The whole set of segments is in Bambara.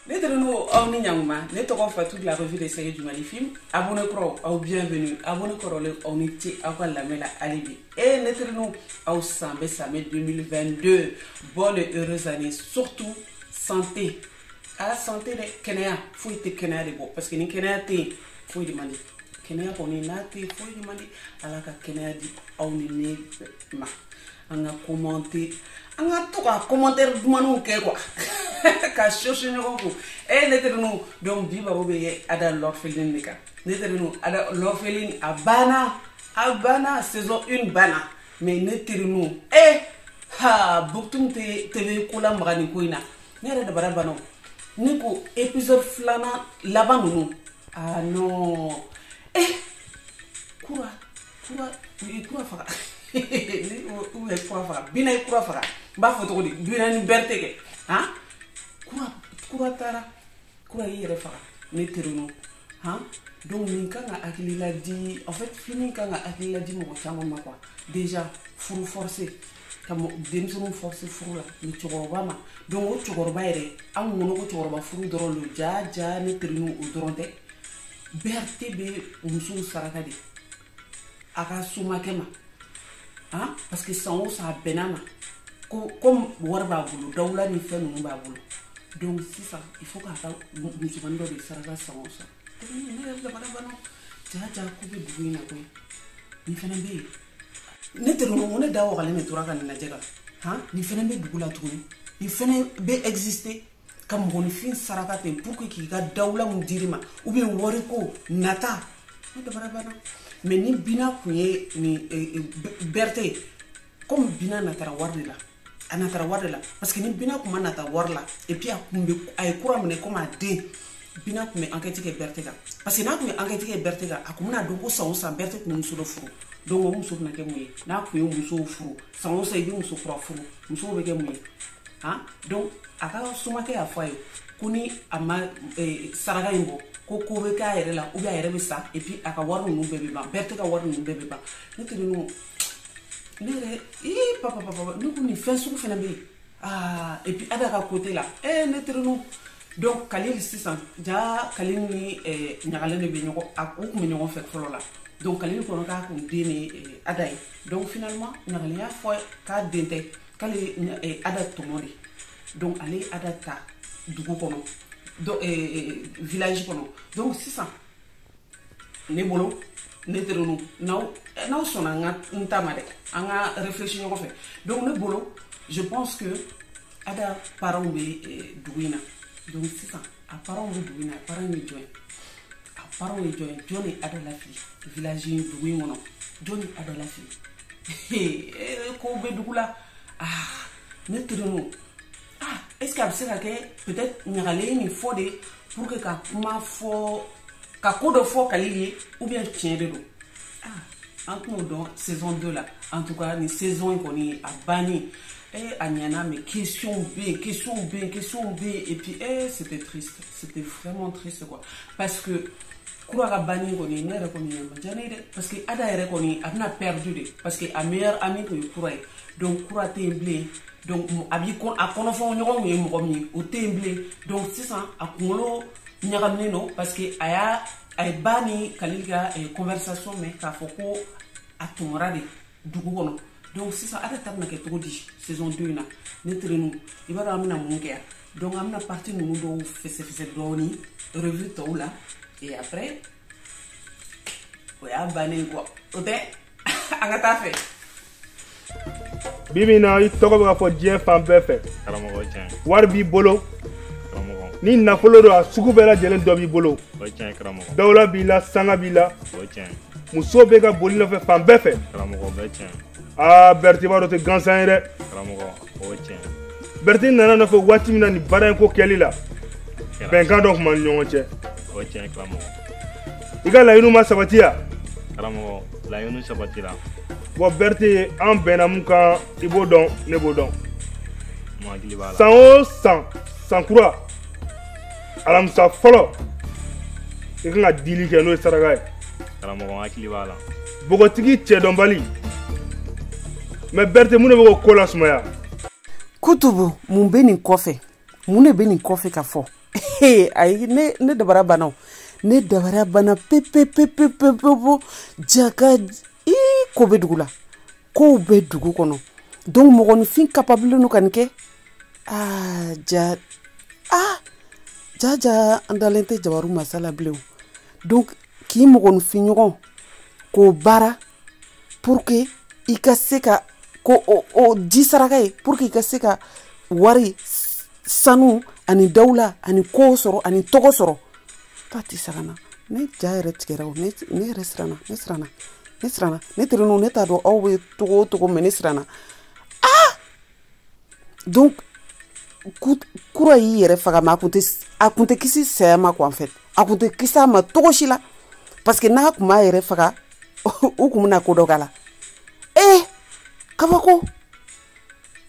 ne terinu aw ni ɲanguma ne tɔgɔ fatu la revue de sege jumali film abonné kura aw bienvenue abonné kɔrɔlen aw ni ce aw ka lamɛn la hali bi e ne terinu aw sanbɛɛ sanbɛɛ 2022 bonne et heureuse année surtout santé ah la santé dɛ kɛnɛya foyi tɛ kɛnɛya de bɔ parce que ni kɛnɛya tɛ yen foyi de man di kɛnɛya kɔni n'a tɛ yen foyi de man di ala ka kɛnɛya di aw ni ne bɛɛ na an ka commenter an ka to ka commentaire dumanw kɛ quoi ka sɔsɔ ɲɔgɔn ko e eh, ne terinu donc bi baro bɛ kɛ ada l'orpheline de kan ne terinu ada l'orpheline a banna a banna saison une banna mais ne terinu e eh, ha buktum tv ko lamaga nin ko in na ne yɛrɛ dabara banna ne ko épisode filanan laban ninnu ah non eh kura kura kura faga u ye kura faga bina ye kura faga n b'a fɔ cogo di bina ni berte kɛ han kura kura taara kura y'i yɛrɛ faga ne terinu han donc nin kan ka hakilila di en fait film kan ka hakilila di mɔgɔ caman ma quoi déjà furu forcé ka denmisɛnninw forcé furu la ni cɛkɔrɔba ma donc o cɛkɔrɔba yɛrɛ an kun kɔnɔ ko cɛkɔrɔba furu dɔrɔn don jaa jaa ne terinu o dɔrɔn tɛ berte bɛ musow saraka de a ka somakɛ ma han parce que san o san a bɛ na a ma ko comme wari b'a bolo dawula ni fɛn ninnu b'a bolo donc sisan il faut k'a ka musomannin dɔ de saraka san o san ne yɛrɛ dabara banna jaa jaa ko bɛ dugu in na koyi nin fana bɛ yen ne terinu ne da wagalen de tora ka nin lajɛ ka han nin fana bɛ dugu la tuguni nin fana bɛ exister ka mɔgɔninfin saraka ten pour que k'i ka dawula mun d'i ma ou bien wari ko nata ne dabara banna mais ni bina kun ye ni eh, eh, berte ye comme bina natara wari de la a natara wari de la parce que ni bina kun ma nata wari la et puis a kun bɛ a ye kura minɛ comme a den bina kun bɛ enquête kɛ berte kan parce que n'a kun ye enquête kɛ berte kan a kun bɛna dɔn ko san o san berte kun ye muso dɔ furu donc o muso bɛna kɛ mun ye n'a kun ye musow furu san o san i bɛ muso kura furu muso o bɛ kɛ mun ye han donc a ka somakɛ y'a fɔ a ye ko ni a ma eh, saraka in bɔ ko ko bɛ k'a yɛrɛ la ou bien a yɛrɛ bɛ sa et puis a ka wari ninnu bɛɛ bɛ ban berte ka wari ninnu bɛɛ bɛ ban ne terinu ne yɛrɛ ii papa papa ne ko nin fɛn sugu fana bɛ yen aa ah, et puis ada ka côté la ee eh, ne terinu donc kalili sisan jaa kalili ni eh, ɲagalen de bɛ ɲɔgɔn a u kun bɛ ɲɔgɔn fɛ fɔlɔ la donc kalili kɔnɔ k'a kun den ni eh, ada ye donc finalement ɲagalen y'a fɔ k'a den tɛ k'ale ye ada tɔmɔ de donc ale ye ada ta dugu kɔnɔ donc eh, eh, village kɔnɔ donc sisan ne bolo ne terinu n'aw n'aw sɔnna n ka n ta ma dɛ an ka réfléchir ɲɔgɔn fɛ donc ne bolo je pense que ada parents bɛ eh, dugu in na donc sisan a parents bɛ dugu in na a parents ye jɔn ye a parents ye jɔn ye jɔn ye ada lafili village in dugu in kɔnɔ jɔn ye ada lafili kow bɛ dugu la ah ne terinu ah est ce que a bɛ se ka kɛ peut être ɲagalen ye nin fɔ de pour que ka kuma fɔ ka ko dɔ fɔ kalili ye ou bien tiɲɛ de don ah an bɛn'o dɔn saison 2 la en tout cas nin saison in kɔni a banni eh, a ɲɛna mais question bɛ yen question bɛ yen question bɛ yen et puis eh, c'était triste c'était vraiment triste quoi parce que kura ka banni kɔni ne yɛrɛ kɔni ma diya ne ye dɛ parce que ada yɛrɛ kɔni a bɛna perdu de parce que a meilleur ami tun ye kura ye donc kura tɛ yen bilen donc a b'i ko a kɔnɔfɔɲɔgɔn tun ye mɔgɔ min ye o tɛ yen bilen donc sisan a kunkolo ɲagaminen don parce que a y'a a ye ba ni kalili ka eh, conversation mɛn k'a fɔ ko a tɔmɔra de dugu kɔnɔ donc sisan ada ta bɛna kɛ cogo di saison 2 in na ne terinu i b'a dɔn an bɛna mun kɛ yan donc an bɛna partie ninnu dɔw fɛsɛfɛsɛ dɔɔni revue tɔw la et après o y'a bannen quoi o tɛ an ka taa filɛ bi bi in na i tɔgɔ bɛ ka fɔ diɲɛ fan bɛɛ fɛ karamɔgɔ tiɲɛ wari b'i bolo ni nafolo don a sugu bɛɛ lajɛlen dɔ b'i bolo dawula b'i la sanga b'i la muso bɛ ka boli i nɔfɛ fan bɛɛ fɛ aa berete i b'a dɔn o tɛ gansan ye dɛ berete i nana n nɔfɛ waati min na nin baara in ko kɛli la bɛnkan dɔ tun b'an ni ɲɔgɔn cɛ i ka laɲiniw ma sabati wa karamɔgɔ laɲiniw sabatira bon berete an bɛnna mun kan i b'o dɔn ne b'o dɔn san o san san kura alamisa fɔlɔ i kan ka dili kɛ n'o ye saraka ye karamɔgɔ n hakili b'a la bogotigi cɛdɔnbali mais berete mun de bɛ k'o ko lasumaya kutubu mun bɛ nin kɔfɛ mun de bɛ nin kɔfɛ ka fɔ ayi ne ne dabali banna o ne dabali banna pepepepepepepo jaka ko bɛ dugu la kow bɛ dugu kɔnɔ donc mɔgɔninfin capable don ka nin kɛ aa jaa aa jaa jaa an dalen tɛ jabaru masa la bilen donc k'i mɔgɔninfin ɲɔgɔn k'o baara pour que i ka se ka ko o o di saraka ye pour que i ka se ka wari sanu ani dawula ani ko sɔrɔ ani tɔgɔ sɔrɔ patisakana ne ja yɛrɛ tigɛra o ne yɛrɛ siranna ne siranna ne siranna ne terinu ne t'a dɔn aw bɛ cogo o cogo mais ne siranna donc kura y'i yɛrɛ faga mais a kun tɛ a kun tɛ kisi saya ma quoi en fait a kun tɛ kisi a ma cogo si la parce que n'a kun m'a yɛrɛ faga u kun bɛna ko dɔ k'a la ee eh, kabako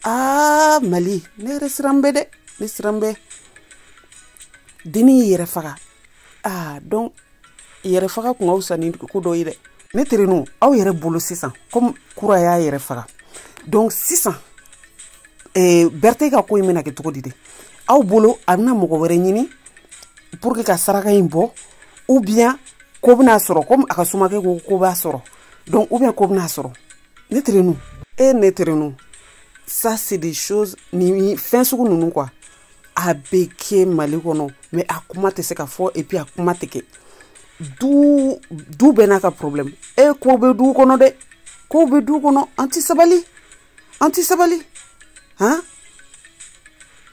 aa ah, mali ne yɛrɛ siran bɛ dɛ ne siran bɛ dennin y'i yɛrɛ faga aa donc yɛrɛ faga kun ka fisa ni ko dɔ ye dɛ ne terenu aw yɛrɛ bolo sisan comme kura y'a yɛrɛ faga donc sisan eh, Berthe ka ko in bɛna kɛ cogo di de aw bolo a bɛna mɔgɔ wɛrɛ ɲini pour que ka saraka in bɔ ou bien ko bɛn'a sɔrɔ comme a ka somakɛ ko ko b'a sɔrɔ donc ou bien ko bɛn'a sɔrɔ ne terenu e ne terenu ça c'est des choses nin fɛn sugu ninnu quoi a bɛ kɛ mali kɔnɔ mais a kuma tɛ se ka fɔ et puis a kuma tɛ kɛ du du bɛɛ n'a ka problème e ko bɛ du kɔnɔ dɛ ko bɛ du kɔnɔ an tɛ sabali an tɛ sabali han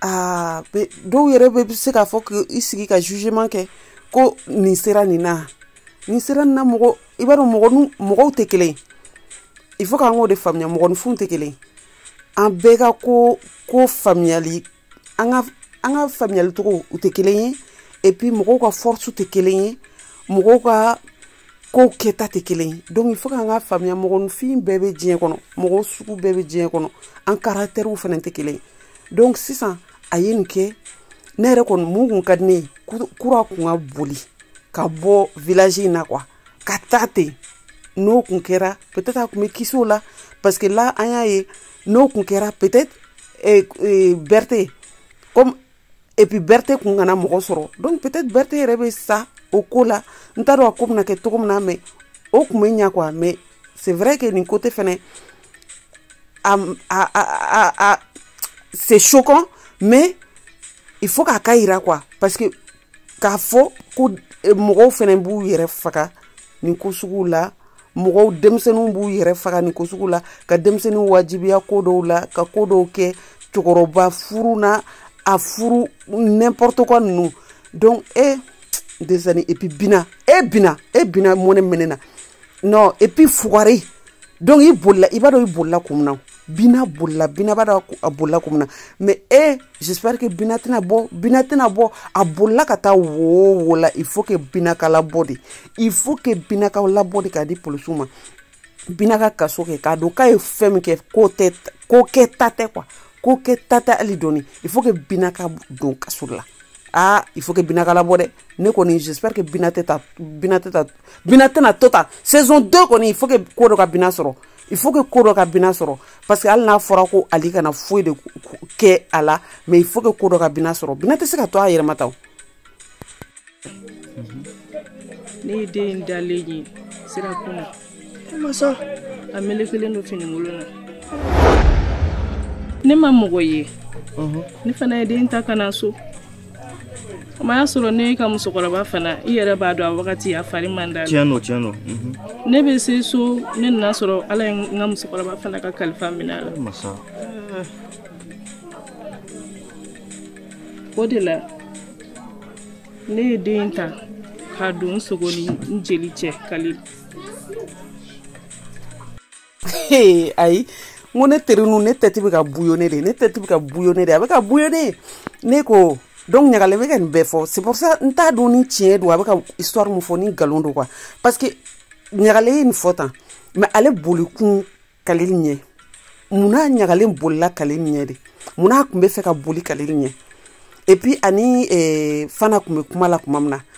aa dɔw yɛrɛ bɛ se k'a fɔ k'i sigi ka jugement kɛ ko nin sera nin na nin sera nin na mɔgɔ i b'a dɔn mɔgɔ mɔgɔw tɛ kelen ye il faut k'an k'o de faamuya mɔgɔninfinw tɛ kelen ye an bɛɛ ka ko ko faamuyali an ka an ka faamuyali cogow tɛ kelen ye et puis mɔgɔw ka force tɛ kelen ye mɔgɔw ka kow kɛta tɛ kelen ye donc il faut k'an k'a faamuya mɔgɔninfin bɛɛ bɛ diɲɛ kɔnɔ mɔgɔ sugu bɛɛ bɛ diɲɛ kɔnɔ an caractèrew fana tɛ kelen ye donc sisan a ye nin kɛ ne yɛrɛ kɔni mun kun ka di ne ye kura kun ka boli ka bɔ village in na quoi ka taa ten n'o kun kɛra peut-être a kun bɛ kisi o la parce que là an y'a ye n'o kun kɛra peut-être eh, eh, Berthe comme et puis Berthe kun kana mɔgɔ sɔrɔ donc peut-être Berthe yɛrɛ bɛ sa o ko la n t'a dɔn a ko bɛna kɛ cogo min na mais o kun bɛ ɲa quoi mais c'est vrai que nin côté fɛnɛ a a a a c'est choquant mais il faut k'a k'a yira quoi parce que k'a fɔ ko e, mɔgɔw fɛnɛ b'u yɛrɛ faga nin ko suguw la mɔgɔw denmisɛnninw b'u yɛrɛ faga nin ko sugu la ka denmisɛnninw wajibiya ko dɔw la ka ko dɔw kɛ cɛkɔrɔba furu na a furu n'importe quoi ninnu donc e desani et puis bina e bina e bina mɔnɛ bɛ ne na non et puis fugari donc i bolila i b'a dɔn i bolila kun min na bina bolila bina b'a dɔn a bolila kun min na mais e j'espère que bina tɛna bɔ bina tɛna bɔ a bolila ka taa wo o wo la il faut que bina ka labɔ dɛ il faut que bina ka labɔ dɛ k'a di polisiw ma bina ka kaso kɛ k'a dɔn k'a ye fɛn min kɛ k'o tɛ ko kɛta tɛ quoi ko kɛta tɛ hali dɔɔni il faut que bina ka don kaso la ah il faut que bina ka labɔ dɛ ne kɔni j'espère que bina tɛ ta bina tɛ ta bina tɛna to tan saison 2 kɔni il faut que ko dɔ ka bina sɔrɔ il faut que ko dɔ ka bina sɔrɔ parce que hali n'a fɔra ko ali kana foyi de kɛ a la mais il faut que ko dɔ ka bina sɔrɔ bina tɛ se ka to a yɛrɛ ma tan ne ye den in dalen ye sira kunna masa a melekelen don finikolon na ne ma mɔgɔ ye ne fana ye den ta ka na so Y'a sɔrɔ ne ka musokɔrɔba fana i yɛrɛ b'a dɔn a wagati a fari man d'a la ne bɛ se so ne nana a sɔrɔ ala ye n ka musokɔrɔba fana ka kalifa minɛ a la o de la ne ye den ta ka don n sogo ni n jeli cɛ ka ayi n ko ne teri nu ne tête bɛ ka bouillonner dɛ ne tête bɛ ka bouillonner dɛ a bɛ ka bouillonner ne ko donc ɲagalen bɛ ka nin bɛɛ fɔ c'est pour ça n t'a dɔn ni tiɲɛ don a bɛ ka histoire min fɔ ni nkalon don quoi parce que ɲagalen ye nin fɔ tan mais ale boli kun kale ɲɛ munna ɲagalen bolila kale ɲɛ de munna a tun bɛ fɛ ka boli kale ɲɛ et puis ani eh, fana tun bɛ kuma la tuma min na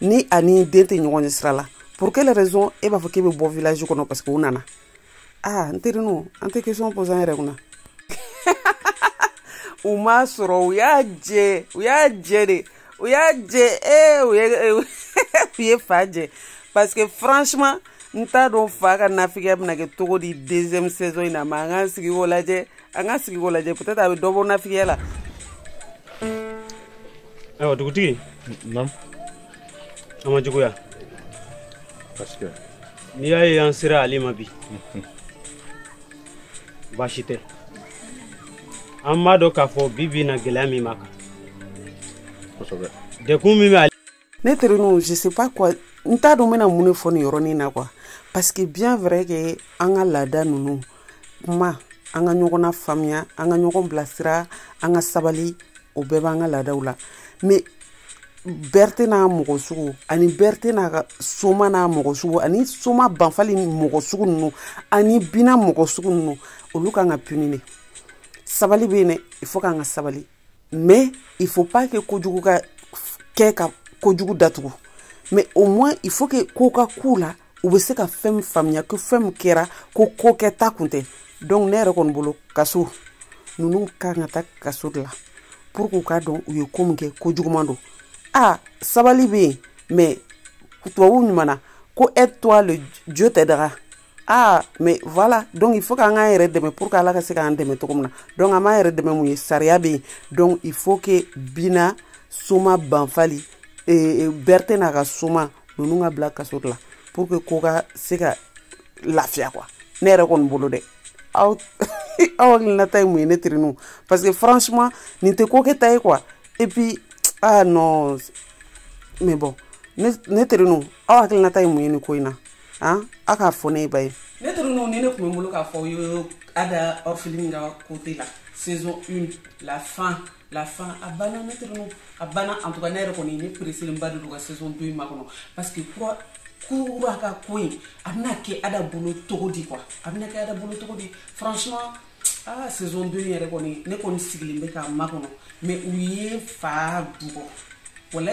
ni a ni den tɛ ɲɔgɔn ye sira la pour quelle raison e b'a fɔ k'e bɛ bɔ village kɔnɔ parce que u nana ah n terinu an tɛ question poser an yɛrɛ kunna u m'a sɔrɔ u y'a jɛ u y'a jɛ de u y'a jɛ ee u ye u ye fa jɛ parce que franchement n t'a dɔn fa ka nafigiya bɛna kɛ cogo di deuxième saison in na mais an k'an sigi k'o lajɛ an ka sigi k'o lajɛ peut-être a bɛ dɔ bɔ nafigiya la ayiwa dugutigi an ma juguya parce que n'i y'a ye an sera ale ma bi baasi tɛ an b'a dɔn k'a fɔ bi bi in na gɛlɛya min b'a kan dɛgun min bɛ ale ne terininw je sais pas quoi n t'a dɔn n bɛna mun de fɔ nin yɔrɔnin na quoi parce que bien vrai que an ka laada ninnu kuma an ka ɲɔgɔn na faamuya an ka ɲɔgɔn bilasira an ka sabali o bɛɛ b'an ka laadaw la mais bɛrite n'a mɔgɔ sugu ani bɛrite n'a ka soma n'a mɔgɔ sugu ani soma banfali mɔgɔ sugu ninnu ani bina mɔgɔ sugu ninnu olu kan ka puni de sabali bɛ yen dɛ il faut k'an ka sabali mais il faut pas que kojugu ka kɛ ka kojugu datugu mais au moins il faut que ko ka k'u la u bɛ se ka fɛn min faamuya ko fɛn min kɛra ko ko kɛta kun tɛ donc ne yɛrɛ kɔni bolo kaso ninnu kan ka taa kaso de la pour k'u k'a dɔn u ye ko min kɛ ko juguman don a sabali bɛ yen mais tubabuw ɲuman na ko aide toi le dieu t'aidera ah mais voilà donc il faut k'an k'an yɛrɛ dɛmɛ pour que ala ka se k'an dɛmɛ cogo min na donc an b'an yɛrɛ dɛmɛ mun ye sariya bɛ yen donc il faut que bina soma banfali eh, eh, bɛrite n'a ka soma ninnu ka bila kaso de la pour que ko ka se ka lafiya quoi ne yɛrɛ kɔni bolo dɛ aw aw hakilinata ye mun ye ne teriniw parce que franchement nin tɛ ko kɛta ye quoi et puis ah non mais bon ne ne teriniw aw hakilinata ye mun ye nin ko in na an a k'a fɔ ne ye bani ne teriniw nin de tun bɛ n bolo k'a fɔ aw ye ada orpheline ka côté la saison une la fin la fin a banna ne teriniw a banna en tout cas ne yɛrɛ kɔni ne presselenba de don ka saison deux in makɔnɔ parce que kura kura ka ko in a bɛna kɛ ada bolo cogo di quoi a bɛna kɛ ada bolo cogo di franchement ah saison deux in yɛrɛ kɔni ne kɔni sigilen bɛ k'a makɔnɔ mais u ye fa dugɔ wala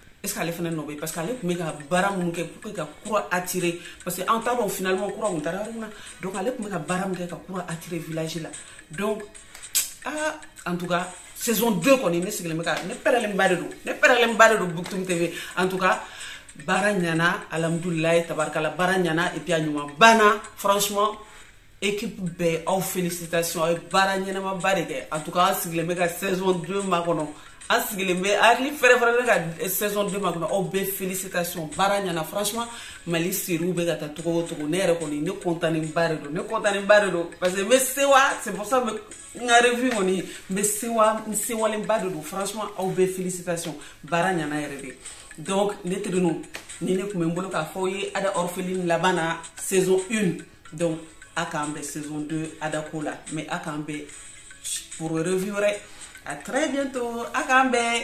est-ce que ale fana nɔ bɛ parce que ale tun bɛ ka baara minnu kɛ pour que ka kura attirer parce que an t'a dɔn finalement kura tun taara yɔrɔ min na donc ale tun bɛ ka baara min kɛ ka kura attirer village la donc ah en tout cas saison 2 kɔni ne sigilen bɛ ka ne pɛrɛlenba de don ne pɛrɛlenba de don Boutoum TV en tout cas baara ɲana alhamdulilayi tabarikala baara ɲana et puis a ɲuman banna franchement équipe bɛɛ aw félicitations aw ye baara ɲɛnamaba de kɛ en tout cas an sigilen bɛ ka saison 2 makɔnɔ an sigilen bɛ hakili fɛrɛfɛrɛ bɛ ka saison 2 makɔnɔ aw bɛɛ félicitations baara ɲɛna franchement mali seriw bɛ ka taa togo o togo ne yɛrɛ kɔni ne kɔntanenba de don ne kɔntanenba de don parce que n bɛ sewa c'est pour ça n ka revue kɔni n bɛ sewa n sewalenba de don franchement aw bɛɛ félicitations baara ɲɛna yɛrɛ de donc ne teriniw nin de tun bɛ n bolo k'a fɔ aw ye ada orpheline laban na saison 1 donc a k'an bɛn saison 2 adako la mais a k'an bɛn pour revue wɛrɛ à très bientôt a k'an bɛn